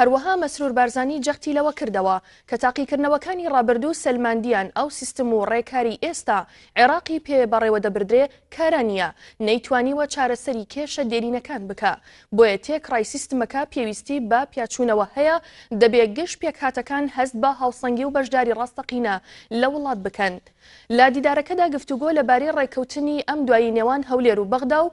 هەروەها مەسرور بارزانی جەختی لەوە کردەوە کە تاقیکردنەوەکانی ڕابردوو سەلماندیان ئەو سیستم و ڕێکاری ئێستا عێراقی پێ بەڕێوەدەبردرێ کارا نییە، نەیتوانیوە چارەسەری کێشە دێرینەکان بکا، بۆیە تێکڕای سیستمەکە پێویستی بە پیاچوونەوە هەیە، دەبێ گشت پێکهاتەکان هەست بە هاوسەنگی و بەشداری ڕاستەقینە لە وڵات بکەن. لە دیدارەکەدا گفتوگۆ لەبارەی ڕێککەوتنی ئەم دوایی نێوان هەولێر و بەغدا و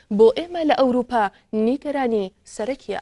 بۆ ئێمە لە ئەوروپا نیگەرانی سەرەکیە.